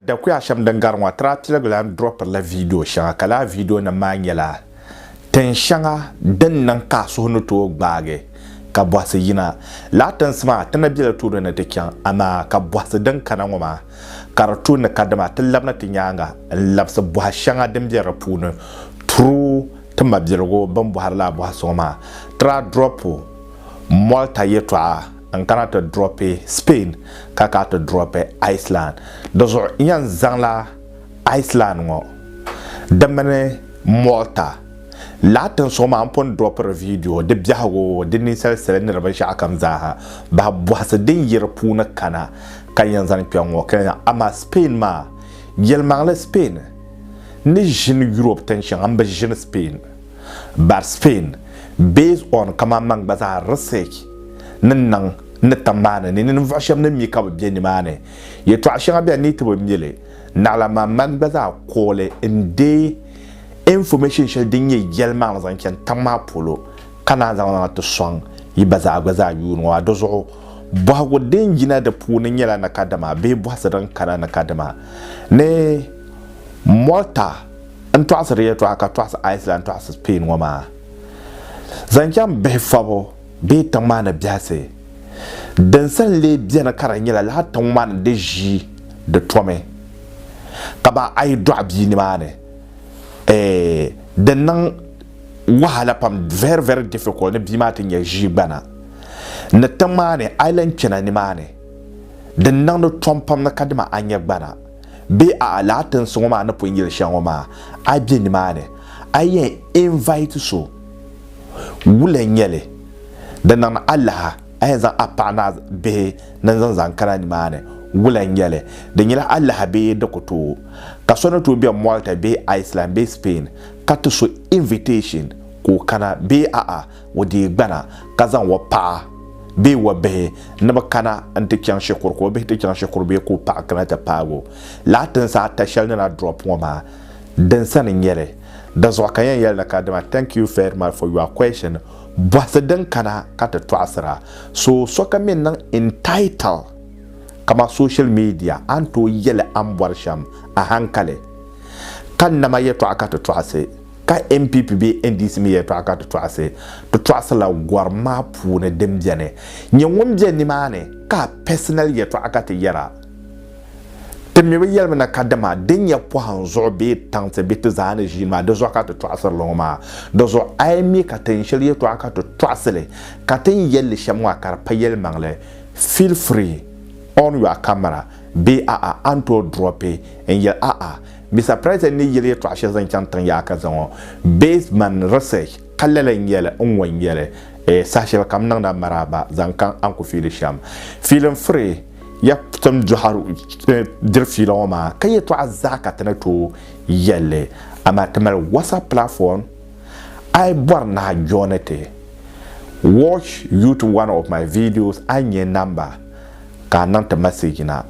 Dakuya shɛm din gari ŋɔ, Traa Tiligu lan dropirila viidiyo shɛŋa ka lala viidiyonim maa nyɛla tin shɛŋa din niŋ ka a suhu ni tooi gbaagi ka bɔhisi yina. Lala tinsi maa ti ni be li tuuli ni ti chaŋ amaa ka bɔhisi din kana ŋɔ maa ka di tu ni ka dama ti labina ti nyaaŋa n-labisi bɔha shɛŋa din be di puuni tiri ti mabiligu bɛn bɔhiri lala bɔhisi ŋɔ maa. Traa dropu Mɔlta yɛtɔɣa. N kana ti dropi Spain ka ka ti dropi Iceland. Di zuɣu n yan zaŋla Iceland ŋɔ di mini Malta lahi tinsuɣu maa n pun dropiri vidio di biɛhigu di ninsali sili ni di binshɛɣu kam zaaha bahi bɔhisi din yi di puuni kana ka n yan zani kpɛŋ ŋɔ ka yan amaa Spain maa yɛlimaŋli Spain ni ʒini Europe tinshɛŋa m bi ʒini Spain. Bari Spain based on kaman man gba zaa research ni niŋ ni tiŋ maa ni ni ninvuɣu shɛb ni mi ka bɛ be nimaani yɛtɔɣa shɛŋa bɛ ni ti bi mi li naɣila maa man gba zaa kooli n deei information shɛli din nyɛ yɛlimaŋli zaŋ chani tiŋ maa polo ka naan zaŋ na ti sɔŋ yi ba zaa gba zaa yuuni ŋɔ maa di zuɣu bɔhigu din yina di puuni nyɛla ni ka dama bee bɔhisi din kana ni ka dama ni Malta n tɔɣisi di yɛtɔɣa ka tɔɣisi Iceland tɔɣisi Spain ŋɔ maa zaŋ chaŋ bihi fɔbu bee tiŋ maa ni biɛhisi din sa n-lee beni ka di nyɛla lala tiŋ maa ni di ʒi di tomi ka ba a yi dɔɣi bia nimaani eh di niŋ wahala pam very very difficult ni bia maa ti nyɛ ʒiigbana ni tiŋ maa ni Ireland kpɛna nimaani din niŋdi tom pam ni kadima a nyɛ gbana Bee a'a lala tinsi ŋɔ maa ni pun yili shɛli ŋɔ maa, a be nimaani, a yɛn invite so, wula n-nyɛ li? Di niŋdi alaha a yɛn zaŋ a paɣa ni a bihi ni zaŋ zaŋ kana nimaani, wula n-nyɛ li? Di nyɛla alaha bee di ku tooi? Ka so ni tooi be Malta bee Iceland bee Spain ka ti so invitation ka o kana bee a'a O dii gbana ka zaŋ o paɣa bee o bihi ni bɛ kana n-ti chaŋ shikuru ka o bihi ti chaŋ shikuru bee ka o paɣa kana ti paagi o. Lala tinsi ata shɛli ni na drop ŋɔ maa, din sani n-nyɛ li. Di zuɣu ka yɛn yɛli ni kadama thank you very much for your question, bɔhisi din kana ka ti tɔɣisira. So sokam mi n-niŋ entitle kaman social media a ni tooi yɛli a ni bɔri shɛm ahankali ka nama yɛtɔɣa ka ti tɔɣisi. Ka NPP bee NDC mi yɛli tɔɣa ka ti tɔɣisi, ti tɔɣisila gɔrim maa puuni din beni. Nyɛ ŋun be nimaani ka a personal yɛtɔɣa ka ti yɛra. Ti mi bi yɛlimi na kadama din nyɛ pɔhim zuɣu bee taŋsi bɛ ti zaa ni ʒiini maa di zuɣu ka ti tɔɣisiri li ŋɔ maa. Di zuɣu a yi mi ka tin shɛli yɛtɔɣa ka ti tɔɣisili ka tin yɛli li shɛm maa ka di pa yɛlimaŋli, feel free, on your camera bee a'a a ni tooi drop n yɛli a'a. Bisa President ni yeli yɛtɔɣa shɛli zaŋ chaŋ tiŋ yaha ka zaŋɔ based man research ka lala n yeli n ŋɔ n yeli eh saha shɛli kam niŋdi a maraaba zaŋ ka a ni ku fiili shɛm fiili n furi ya tim dɔhir eh diri fiila ŋɔ maa ka yɛtɔɣa zaa ka ti ni tooi yelli amaa ti mali WhatsApp platform a yi bɔri ni a joini ti watch you to one of my videos a ni nya number ka a niŋ ti message na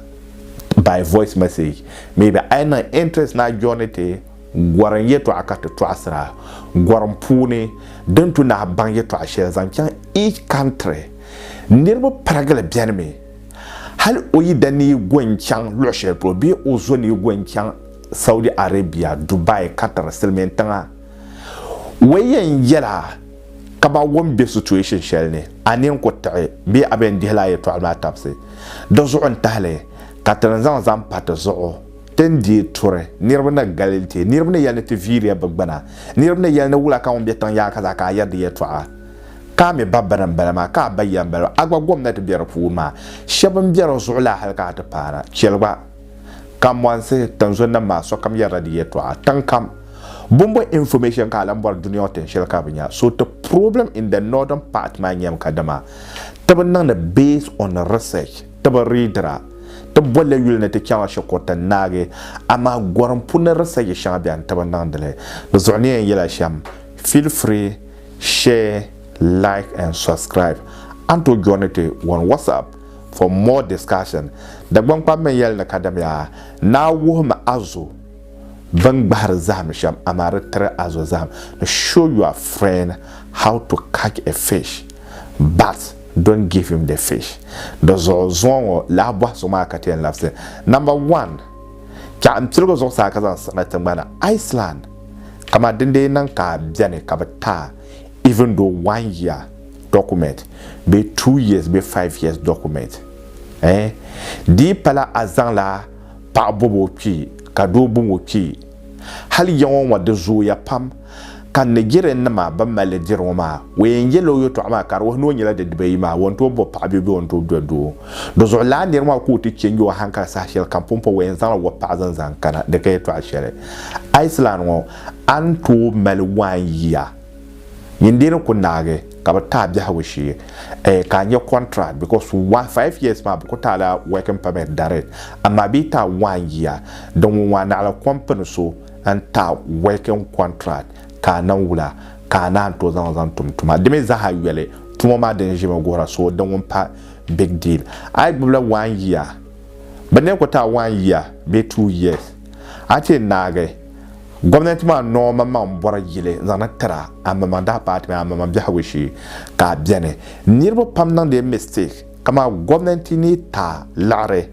by voice message maybe a yi niŋ interest na journey ti gorim yɛtɔɣa ka ti tɔɣisira gorim puuni din tu nahi baŋ yɛtɔɣa shɛli zaŋ chaŋ each country niriba pirigili beni mi hali o yi da ni yi go n chaŋ luɣi shɛli polo bee o zo ni yi go n chaŋ Saudi Arabia Dubai Qatar silimiin tiŋa wei yɛn yɛla Ka ba wum be situation shɛli ni, a ni yɛn ku tiɣi bee a bɛn dihi laa yɛtɔɣili maa tabisi di zuɣu n-tahi li ka ti ni zaŋ zaŋ pa ti zuɣu ti ni deei turi niriba ni galili ti, niriba ni yɛli ni ti viiriya bɛ gbuna, niriba ni yɛli ni wula ka ŋun be tiŋ yaɣa ka zaa ka a yɛri di yɛtɔɣa ka a mi ba bini m-bala maa ka a ba ya m-bala maa a gba gomnati be di puuni maa shɛba m-be di zuɣu laa hali ka a ti paana chɛli gba. Ka mɔnsi tinzun nim maa sokam yɛrila di yɛtɔɣa tiŋ kam. Bɔmbɔ information ka a lan bɔri duniɔŋ tin shɛli ka bɛ nya. So ti problem in the northern part maa nyam ka dama ti bi niŋdi based on research, ti bi readira. Ti bolila yuli ni ti chaŋla shikuru ti naagi. Amaa gorim pun ni research shɛŋa bɛni ti bi niŋdili. Di zuɣu ni yɛn yɛla shɛm, feel free share, like and subscribe. A ni tooi join ti wan WhatsApp. For more discussion, Dagbaŋ kpam mini yɛli ni kadamiya, naa wuhimi azo bɛn gbahiri zahim shɛm amaa di tiri azo zahim ni show your friend how to catch a fish but don't give him the fish. Di zuɣu zuŋɔ ŋɔ lahi bɔhi so maa ka ti yɛn labisi. Number one, Chɛɣu n piligi zuɣusaa ka zaŋ siɣi na tiŋgbani Iceland kamaa dindee niŋ ka bɛni ka bi taai even though one year document bee two years bee five years document eh dii pala a zaŋla paɣa bɔbi o kpee ka doo bɔŋ o kpee hali ya ŋɔ ŋɔ di zooya pam ka Nigerian nima ban mali li diri ŋɔ maa o yɛn yɛla o yɛtɔɣa maa ka di wuhi ni o nyɛla di dibayi maa o ni tooi bɔbi paɣa bee bee o ni tooi doli doo di zuɣu lala niri maa ka o ti change o hankali saha shɛli kam pumpɔŋ o yɛn zaŋla wɔbi paɣa zaŋ zaŋ kana di ka yɛtɔɣa shɛli Iceland ŋɔ a ni tooi mali one year Yin dee ni ku naagi ka bi taai biɛhigu shee eh, ka a nya contract because one five years maa bi ku taai la working permit direct amaa bee taai one year din ŋun ŋɔ a naɣila company so n taai working contract ka a nan wula ka a naan tooi zaŋ zaŋ tum tuma di mi zaaha yoli tuma maa din ʒimi guhira so din ŋun pa big deal a yi gbubila one year bi ni ku taai one year bee two years a ti yɛn naagi Gomnanti maa noo maŋmaŋ bɔri yili n-zaŋ na tira ammaman daa paati mini ammaman biɛhigu shee ka a beni. Niriba pam niŋdi n mistake kaman gomnanti ni ta liɣiri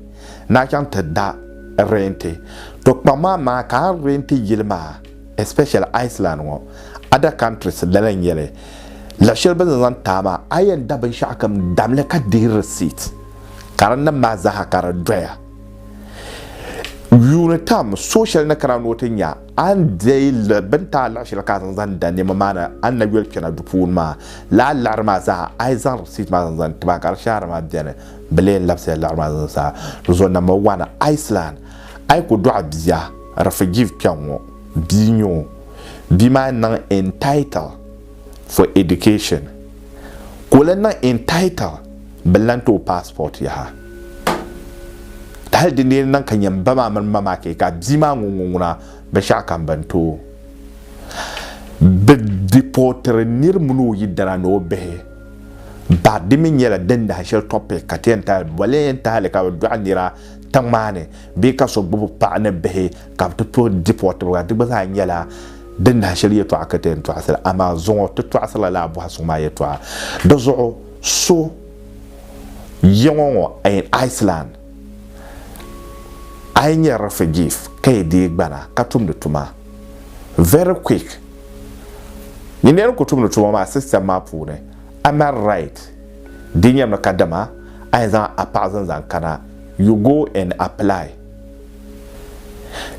ni a chaŋ ti da renti. To kpaŋ maa maa ka a renti yili maa especially Iceland ŋɔ other countries lala n-nyɛ li. Luɣ shɛli bɛ ni zaŋ ti a maa a yɛn da binshɛɣu kam damli ka dihi receipt ka di nim maa zaa ha ka di doya. Yuuni tam, so shɛli ni kana ni o ti nya a ni deei li bini ti a laɣi shɛli ka a zaŋ zaŋ da nɛma maa ni a ni na yoli kpɛna du puuni maa. Lala laɣiri maa zaa a yi zaŋ risit maa zaŋ zaŋ ti ba ka di shɛhira maa beni, bɛ lee ni labisila laɣiri maa zaŋ zaa. Dinzuɣu Namba Wani, Iceland, a yi ku dɔɣi bia, refugee kpɛŋ ŋɔ, bia n-nyɛ o, bia maa niŋ entitle. for education ka o lan niŋ entitle bɛ lan ti o passport yaha. Hali dindee ni niŋ ka nyam ba maa mini ma maa kee ka bia maa ŋun ŋuna binshɛɣu kam bɛn ti o. Bɛ deportiri nir mini o yidana ni o bihi bahi di mi nyɛla din nahi shɛli topic ka ti yɛn tahili bɔleentahili ka bɛ dɔɣi nira tiŋ maa ni bee ka so gbubi paɣa ni bihi Ka bɛ ti tuhi di puɣitibiga, di gba zaa nyɛla din nahi shɛli yɛtɔɣa ka ti yɛn tɔɣisira, amaa zuŋɔ ti tɔɣisirila lala bɔha suŋ maa yɛtɔɣa. Di zuɣu so yiŋɔ ŋɔ in Iceland, a yi nyɛ refugee ka yi dii gbana ka tumdi tuma, very quick yi ni yɛn ku tumdi tuma maa system maa puuni, a mali right di nyɛmi kadama a yɛn zaŋ a paɣa zani zaŋ kana, you go and apply.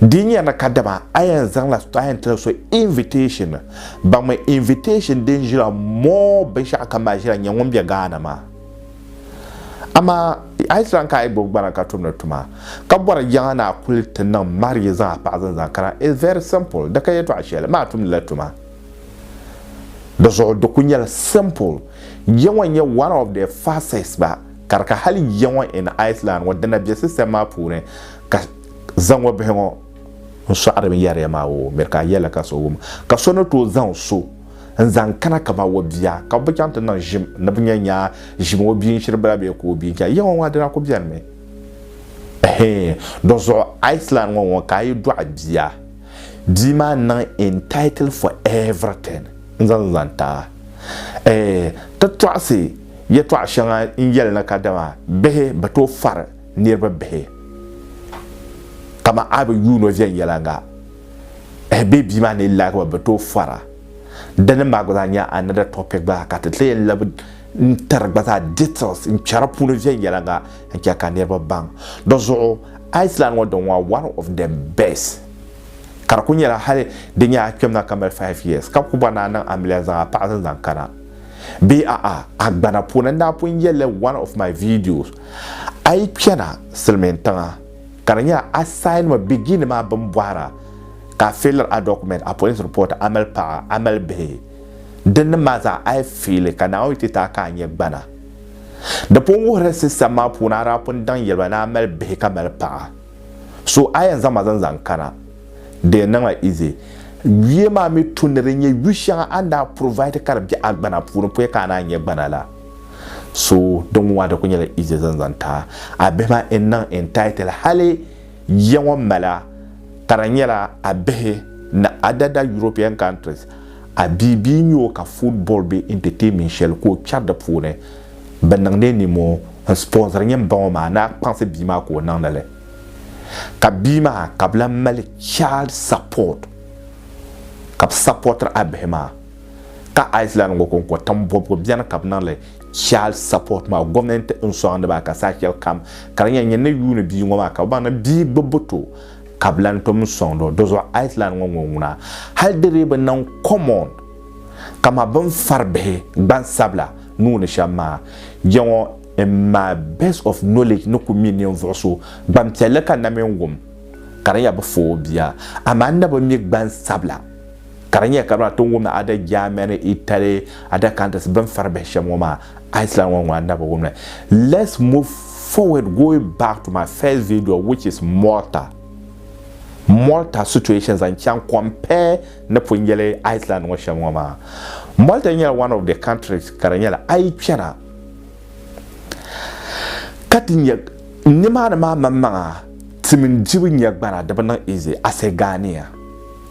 Di nya ni kadama a yɛn zaŋla a yɛn tila so invitation baŋmi invitation din ʒila more binshɛɣu kam maa ʒila nyɛ ŋun bɛ Ghana maa. Amaa a yi lan ka a yi gbubi gbana ka tumdi tuma ka bɔri jaŋa ni a kuli ti niŋ marriage zaŋ a paɣa zani zaŋ kana it's very simple di ka yɛtɔɣa shɛli maa tumdila tuma di zuɣu di kuli nyɛla simple jɛ ŋɔ nyɛ one of the fastest ba Ka di ka hali yiya ŋɔ in Iceland ŋɔ dina bɛ system maa puuni ka zaŋɔ bihi ŋɔ n sɔɣiri bɛ yariya maa o miri ka yɛli ka so wum ka so ni tooi zaŋ so n zaŋ kana kama o bia ka bɛ bi chaŋ ti niŋ ʒim ni bɛ nya nyaa ʒim o bia n shiri bala bee ka o bia n chaŋ yiya ŋɔ maa dina ku beni mi ɛhee do zuɣu Iceland ŋɔ ŋɔ ka a yi dɔɣi bia bia maa niŋ entitled for everything. n-zaŋ zani ti a. Ɛɛh, ti tɔɣisi yɛtɔɣ shɛŋa n-yɛli ni kadama bihi bi tooi fari niriba bihi. Kaman a bi yuun o viɛnyɛliŋga, ɛɛh bee bia maa ni yi lahi ba bi tooi far a. Dini maa gba zaa nyɛla another topic gba zaa ka ti ti yɛn labi n-tiri gba zaa details n-chɛ di puuni viɛnyɛliŋga n-chɛ ka niriba baŋ. Di zuɣu Iceland ŋɔ di ŋɔ one of the best. ka di kuli nyɛla hali di nyɛ a kpɛmna ka mali five years ka ku bɔri ni a niŋ amiliya zaŋ a paɣa zinzaŋ kana bee a'a agbana puuni n daa pun yɛlli one of my videos a yi kpɛna silimiin tiŋa ka di nyɛ a sign mi beginning maa bini bɔhira ka a failiri a document a police report a mali paɣa a mali bihi dinnim maa zaa a yi faili ka Naawuni ti ti a ka a nyɛ gbana di pun wuhiri system maa puuni a daa pun daŋ yɛliba ni a mali bihi ka mali paɣa So a yɛn zaŋ ma zaŋ zaŋ kana, di yɛn niŋla easy. Yuya maa mi tu ni di nyɛ yu shɛŋa a ni daa provide ka di bɛ a gbana puuni pɔi ka a naan nyɛ gbana la. So di ŋɔ maa di ku nyɛla easy zaŋ zaŋ ti a. A bihi maa n niŋ entitled hali ya ŋɔ mala ka di nyɛla a bihi ni a dada European countries a bia bia n nyɛ o ka football bee entertainment shɛli ka o kpɛri di puuni. bi niŋdi nimoo n sponsor nyɛ n ba ŋɔ maa ni a kpaŋsi bia maa ka o niŋdi li ka bia maa ka bi lan mali child support ka bi supportiri a bihi maa ka Iceland ŋɔ konko tin bɔbigu bɛni ka bi niŋdi child support maa gomnanti n sɔŋdi ba ka saha shɛli kam ka di nyɛ nyɛ ni yuuni bia ŋɔ maa ka bi baŋ ni bia gbubbu to ka bi lan tom sɔŋdi o di zuɣu Iceland ŋɔ ŋɔ ŋuna hali di dii bi niŋ common Kama bɛ ni fari bihi gbansabila nuu ni shɛm maa, jɛŋɔ in my best of knowledge ni ku mi ninvuɣ so gbanpiɛlli ka na min wum ka di nyɛla bɛ fa o bia. Amaa n na bi mi gbansabila ka di nyɛla kamina ti ni wumdi ada Germany, Italy, ada countries bɛ ni fari bihi shɛm ŋɔ maa, Iceland ŋɔ ŋɔ n na bi wum li. Let's move forward going back to my first video which is Malta Malta situation zaŋ chaŋ compare ni pun yɛli Iceland ŋɔ shɛm ŋɔ maa, Malta nyɛla one of the countries ka di nyɛla a yi chana ka ti nya nimaani maa maŋmaŋa ti mini dibu nya gbana di bi niŋ easy ase Ghanea.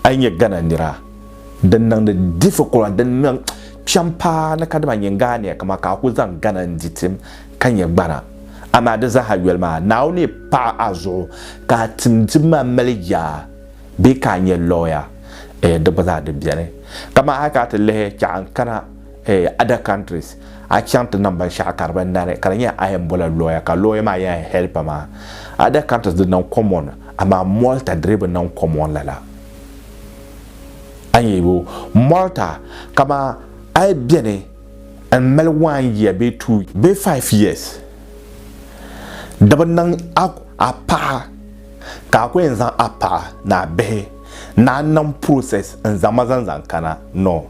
A yi nya Ghana nira din niŋdi difficult din niŋ kpɛm paa ni kadama nyin Ghanea kaman ka a ku zaŋ Ghana n-di tim ka nya gbana. Amaa di zaaha yoli maa Naawuni ni paɣi a zuɣu ka a tim dibu maa mali yaa. bee ka a nya lɔya eh, di gba zaa di beni. Kaman hali ka a ti lihi chaɣa n kana eh, other countries, a chaŋ ti niŋ binshɛɣu ka di bi nani ka di nyɛla a yɛn bola lɔya ka lɔya maa yɛn help ma. Other countries di niŋ common amaa Malta di dii bi niŋ common lala. A nya yo, Malta kaman a yi beni n mali one year bee two bee five years di bi niŋ a paɣa ka a ku yɛn zaŋ a paɣa ni a bihi ni a nam process n-zaŋ ma zaŋ zaŋ kana? No.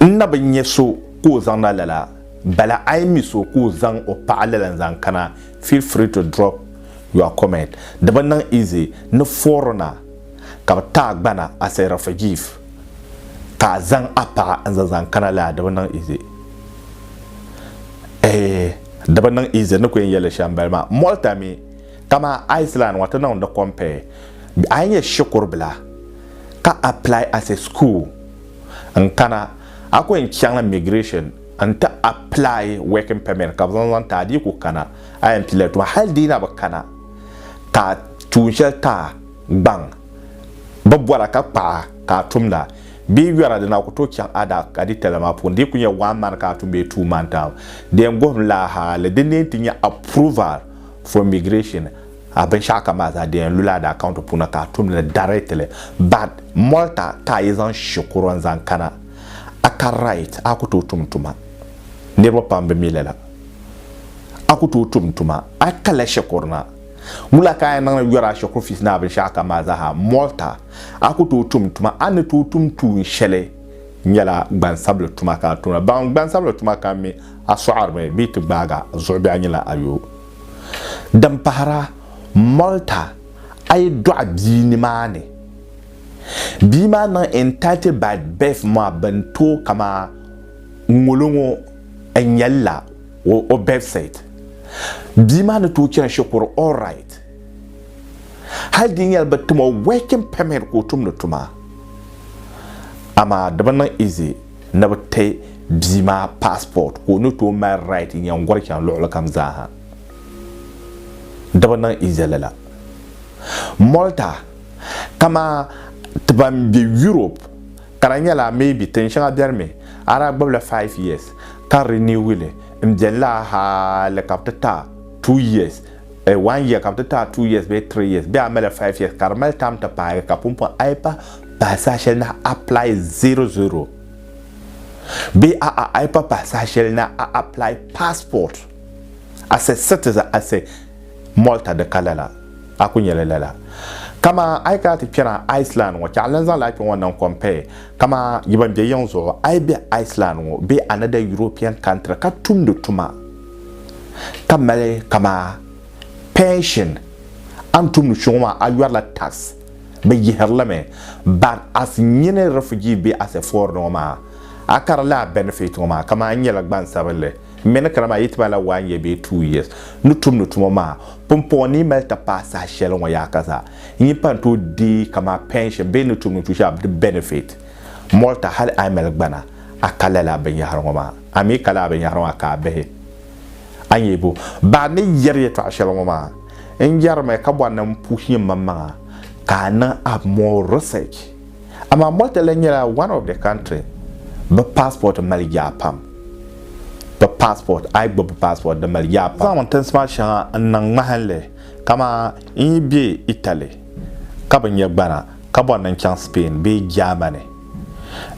N na bi nya so ka o zaŋ na lala. Bala a yi mi so ka o zaŋ o paɣa lala n-zaŋ kana, feel free to drop your comment. Di bi niŋ easy ni foreigner ka bi ti a gbana as a refugeef ka a zaŋ a paɣa n-zaŋ zaŋ kana lala di bi niŋ easy. Eeh. Di bi niŋ easy ni ku yɛn yɛli shɛm bali maa. Malta mi kamani Iceland ŋɔ ti niŋdi compare. A yi nyɛ shikuru bila ka apply as a school n kana a ku yɛn chaŋ la migration n ti apply working permit ka bi zaŋ zaŋ ti a di yi ku kana a yɛn pili la tuma hali di yi na bi kana ka tuun shɛli ti a gbaŋ bi bɔra ka kpaɣa ka a tumda. Bee yɔra di na ku tooi chaŋ a daa ka di tala maa puuni di yi ku nyɛ one man ka a tum bee two man taal di yɛn guhim la a hali di ni yɛn ti nyɛ approval for immigration a binshɛɣu kam maa zaa di yɛn lula a daa county puuni ka a tum li directly but Malta ka a yi zaŋ shikuru n zaŋ kana a ka right a ku tooi tum tuma niriba pam bi mi lala a ku tooi tum tuma a kala shikuru na wula ka a yɛn niŋ yɔra a shikuru fees ni a binshɛɣu kam maa zaa ha Malta A ku tooi tum tuma, a ni tooi tum tuun shɛli nyɛla gbansabili tuma ka a tumda. Baŋ gbansabili tuma ka mi a sɔɣirimi bee ti gbaag a zuɣu bee a nyɛla a yoo. Din pahira, Malta, a yi dɔɣi bia nimaani, bia maa niŋ entitled by birth maa bini tooi kamaa ŋolo ŋɔ n-nyɛlila o birth cert. Bia maa ni tooi chani shikuru, all right. hali di nyɛla bi timo working permit ka o tumdi tuma amaa di bi niŋ easy ni bi ti bia maa passport ka o ni tooi mali right n yɛn gɔri chaŋ luɣuli kam zaaha di bi niŋ easy lala Malta kamaa ti ban bɛ Europe ka di nyɛla maybe tin shɛŋa biɛni mi a daa gbubila five years ka renew li n biɛni la hali ka bi ti ta two years Eh, one year ka bɛ ti taai two years bee three years bee a mali five years ka di mali time ti paagi ka pumpɔŋ a yi pa pahi saha shɛli na apply zero zero bee a a a yi pa pahi saha shɛli na a apply passport as a citizen as a Malta di ka lala a ku nyɛli lala kama a yi kana ti kpɛna Iceland ŋɔ chɛ a lan zaŋla a kpɛ ŋɔ niŋ compare kama yi ban bɛ yiŋ zuɣu a yi bɛ Iceland ŋɔ bee another European country ka tumdi tuma ka mali kama pension a ni tumdi chuɣu maa a yɔrila tax bɛ yihiri li mi but as nyini refugee bee as a foreigner ŋɔ maa a kari lala benefit ŋɔ maa kaman a nyɛla gbansabinli m mi ni kana maa yi ti malila one year bee two years ni tumdi tuma maa pumpɔŋɔ ni yi mali ti paai saha shɛli ŋɔ yaha ka zaa n yi pa n tooi deei kama pension bee ni tumdi tushɛli di benefit Malta hali a yi mali gbana a ka lala binyɛhiri ŋɔ maa. A mi kali a binyɛhiri maa ka a bihi a nyɛ bu? Ba ni yɛri yɛtɔɣ shɛli ŋɔ maa, n yɛrimi ka bɔri ni m puhi nyɛ mmaŋmaŋa ka a niŋ a more research. Amaa Malta lan nyɛla one of the country bɛ passport mali yaa pam. Bɛ passport, a yi gbubi bɛ passport di mali yaa pam. N zaŋmi tinsi maa shɛŋa n niŋ ŋmahinli kamani n yi be Italy ka bi nyɛ gbana ka bɔri ni n chaŋ Spain bee Germany.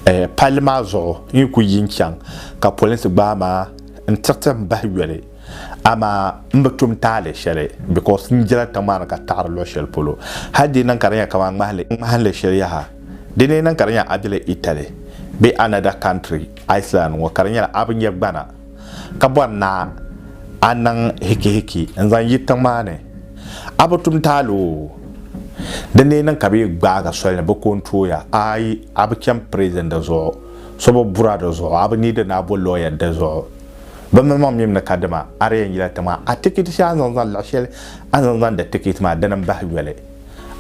Eh, palli maa zuɣu n yi ku yi n-chaŋ ka polinsi gbaai ma n-tiriti m bahi yoli, amaa m bi tum taali shɛli because n jela tiŋ maa ni ka taɣiri luɣ shɛli polo. Hal di niŋ ka di nyɛ kaman ŋmahinli shɛli yaha, di ni yi niŋ ka di nya a bela Italy bee another country, Iceland ŋɔ, ka di nyɛla a bi nya gbana. ka bɔri ni a niŋ hikihiki n-zaŋ yi tiŋ maa ni, a bi tum taali o. Di ni yi niŋ ka bɛ yi gbaag a soli ni bɛ ko n-tooi ya, aai a bi chani prizin di zuɣu, so bi buri a di zuɣu, a bi niidi ni a bo lɔya di zuɣu. Bɛ malimaŋ mim ni kadama a di yɛn yila tiŋ maa, a tikiti shɛli a ni zaŋ zani luɣ shɛli a ni zaŋ zaŋdi tikiti maa dini m-bahi yoli.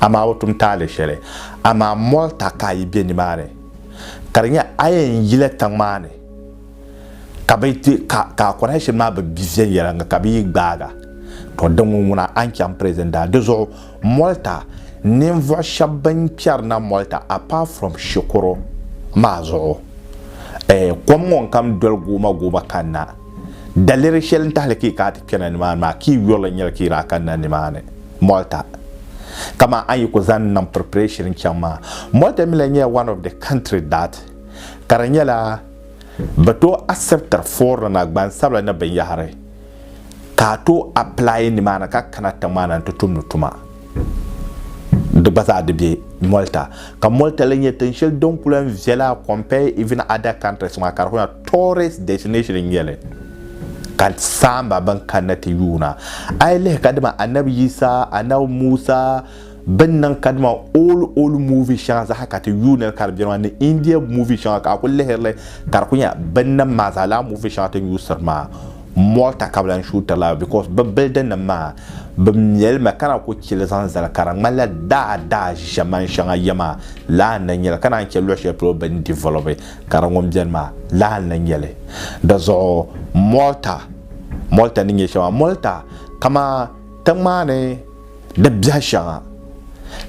Amaa a bi tum taali shɛli. Amaa Mɔlta ka a yi be nimaani, ka di nyɛ a yɛn yila tiŋ maa ni. ka bɛ ti ka ka a connection maa bi bi viɛnyɛliŋga ka bɛ yi gbaaga to di ŋun ŋuna a ni chaŋ prison daa di zuɣu Malta ninvuɣu shɛba bin kpɛri na Malta apart from shikuru maa zuɣu eh kom ŋɔ n-kam doli gooma gooma kanna daliri shɛli n tahili ka yi kana ti kpɛna nimaani maa ka yi yurili n-nyɛli ka yi daa kanna nimaani Malta kaman a yi ku zaŋ niŋ preparation n-chaŋ maa Malta mi lahi nyɛla one of the country that ka di nyɛla Bɛ tooi asibitiri foorinima, gbansabila ni binyɛhiri ka a tooi apilaayi nimaani ka kana tiŋmaana nti tumdi tuma. Di gba zaa di be Malta. Ka Malta lee nyɛ tiŋ shɛli din ku lan viɛla compare even other countries maa ka di kuli nyɛla tourist destination n-nyɛ li ka saamba bɛn kanna ti yuuna. A yi lihi ka dama Annabi Yisa, Annabi Musa, Bini niŋ ka dama old old movie shɛŋa zaha ka ti yuui niri ka di beni maa ni India movie shɛŋa ka a kuli lihirili ka di kuli nya bini niŋ maa zaa lala movie shɛŋa tini yuusiri maa Malta ka bi lan shuutiri la because bi building nim maa bi mɛlimi ka naan kuli chili zaŋ zali ka di ŋmanila daa daa ʒiʒɛman shɛŋa ya maa lala n-lan nyɛli ka naan chɛ luɣ shɛli polo bi ni develop ka di ŋun beni maa lala n-lan nyɛli di zuɣu Malta Malta ni nyɛ shɛm maa Malta kaman tiŋ maa ni Di biɛhi shɛŋa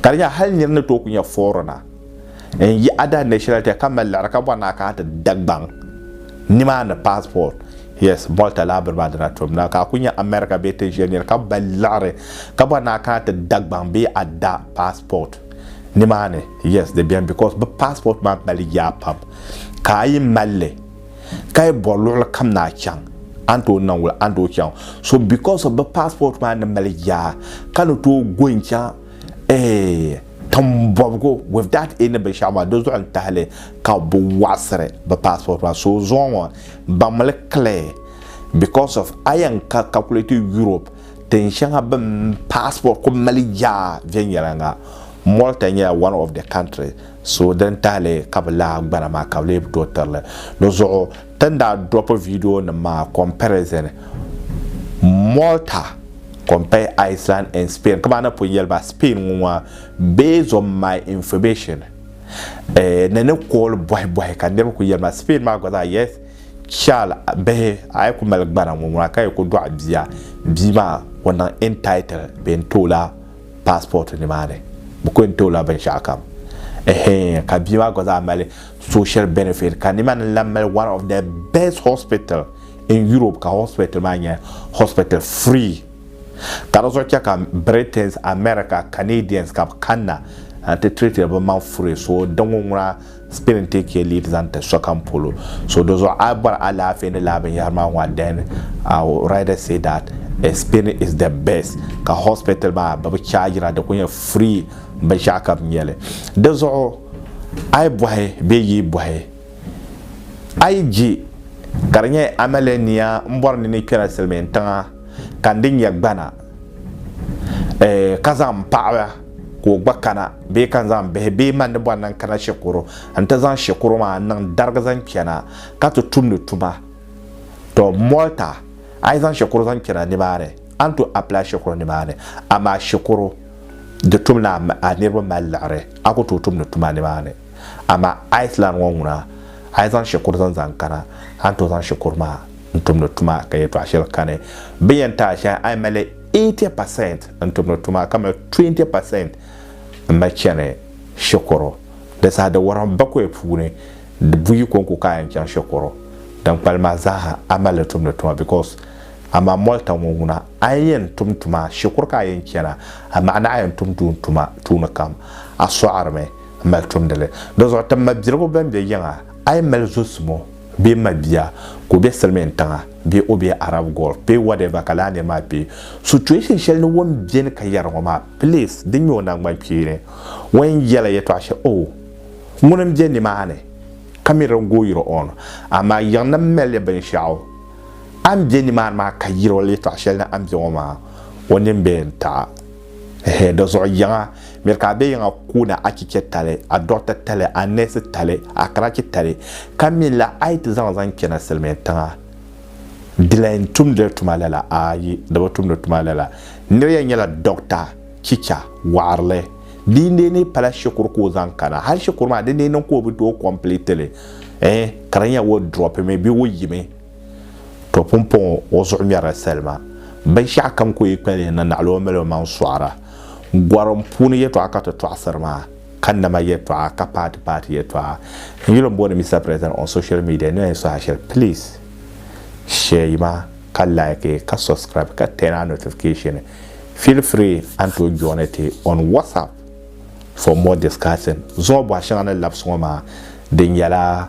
ka di nyɛla hali nir ni tooi ku nya foorina n-yi Ada National Theatre ka mali liɣiri ka bɔri ni a kana ti Dagbaŋ nimaani passport, yes, Malta laa bini maa dina tom la, ka a ku nya America bee tin shɛli nir ka mali liɣiri ka bɔri ni a kana ti Dagbaŋ bee a da passport nimaani, yes, di beni because bɛ passport maa mali yaa pam ka a yi mali li ka yi bɔri luɣili kam ni a chaŋ a ni tooi niŋ wula a ni tooi chaŋ so because of bi passport maa ni mali yaa ka ni tooi go n chaŋ eh timbɔbigu with that any binshaɣu maa di zuɣu n tahili ka bi waɣisiri bi passport maa so zuŋɔ ŋɔ baŋmili clear because of a yɛn ka calculate Europe tin shɛŋa bin passport ku mali yaa viɛnyɛlinga Malta nyɛla one of the country So din tahili ka bi lahi gbana maa ka bi lee bi tooi tirili. Dizuɣu ti ni daa dropi video nim maa comparison Malta compare Iceland and Spain ka maa ni pun yɛli ba Spain ŋɔ maa based on my information ni ni kooli bɔhi bɔhi ka niriba kuli yɛli ma Spain maa gba zaa yes child bihi a yi ku mali gbana ŋɔ ŋuna ka yi ku dɔɣi bia bia maa ku niŋ entitled bee n tooi la passport nimaani bɛ kuli yɛn tooi la binshɛɣu kam ɛhɛɛn ka bia maa gba zaa mali social benefit ka nimaani lahi mali one of the best hospital in Europe ka hospital maa nyɛ hospital free ka di zuɣu chɛ ka Britains America Canadians ka bɛ kanna n ti treat bɛ maŋ furi so din ŋun ŋuna Spelling Take care lead zaŋ ti sokam polo So di zuɣu a bɔri alaafee ni laa binyɛhiri maa ŋɔ then I will rather say that a spelling is the best ka hospital maa bɛ bi chaajira di kuli nyɛ free binshɛɣu ka bɛ nyɛ li di zuɣu a yi bɔhi bee yi bɔhi a yi je ka di nyɛ amiliya nia m-bɔri ni ni kpɛla silimiintiŋa ka n di nyɛ gbana eh ka zaŋ paɣiba ka o gba kana bee ka n zaŋ bihi bee man ni bɔri ni n kana shikuru n ti zaŋ shikuru maa n niŋ darigi zaŋ kpɛna ka ti tumdi tuma tɔ mɔlta a yi zaŋ shikuru zaŋ kpɛna nimaani a ni to apply shikuru nimaani amaa shikuru di tum ni a niriba mali liɣiri a ku tooi tumdi tuma nimaani amaa Iceland ŋɔ ŋuna a yi zaŋ shikuru zaŋ zaŋ kana a ni to zaŋ shikuru maa n tumdi tuma ka yɛtɔɣa shɛli kani bɛ ni yɛn ti a shɛhi a yi mali 80 pasɛnt n-tumdi tuma ka mali 20 pasɛnt m-mali chani shikuru. Di saha di wɔrɔm bakɔi puuni di buyi ko n-ku kaai n-chaŋ shikuru. Din kpalim maa zaaha a mali li tumdi tuma because amaa mɔlta ŋɔ ŋuna a ni yɛn tum tuma shikuru ka a yɛn chana amaa ni a yɛn tum tuun tuma tuuni kam a sɔɣirimi m-mali tumdi li. Di zuɣu ti mabirigu bɛn be yiŋa a yi mali zosimo, bee m ma bia ka o be silimiin tiŋa bee o be Arab Gulf bee whatever ka laa niri maa kpe situation shɛli ni o ni beni ka yɛra ŋɔ maa please din nyɛ o nangban kpeeni ŋɔ yɛn yɛla yɛtɔɣa shɛli oh ŋuni m be nimaani ka mi din gooyiri on amaa yiɣini m mali li binshɛɣu a ni be nimaani maa ka yɛri o yɛtɔɣa shɛli ni a ni be ŋɔ maa o nini bee n taɣi Ehe, di zuɣu yiŋa, miri ka a be yiŋa koona a chiche tali, a dɔɣita tali, a neesi tali, a karachi tali, ka mi la a yi ti zaŋ zaŋ chana silimiin tiŋa. Di la yɛn tumdila tuma lala? Aayi, di bi tumdi tuma lala. Nira yɛn nyɛla dɔɣita, chicha, wɔɣirili. Di yi neei pala shikuru ka o zaŋ kana, hali shikuru maa di ni yi niŋ ka o bi tooi kɔmpileeti li, eh, ka di nyɛ o drɔpimi bee o yimi. To pumpɔŋɔ o zuɣu ŋmɛrila salima. Binshɛɣu kam ku yi kpalihi na naɣila o mali o maŋ sɔɣira. Gɔrim puuni yɛtɔɣa ka ti tɔɣisiri maa, ka nama yɛtɔɣa, ka paati paati yɛtɔɣa. N yuli m-booni Mister President on social media ni a yi suhi a shɛli please share ma ka like ka subscribe ka turn on notification. Feel free a ni tooi join a ti on WhatsApp for more discussing zuŋɔ bɔha shɛŋa ni labisi ŋɔ maa di nyɛla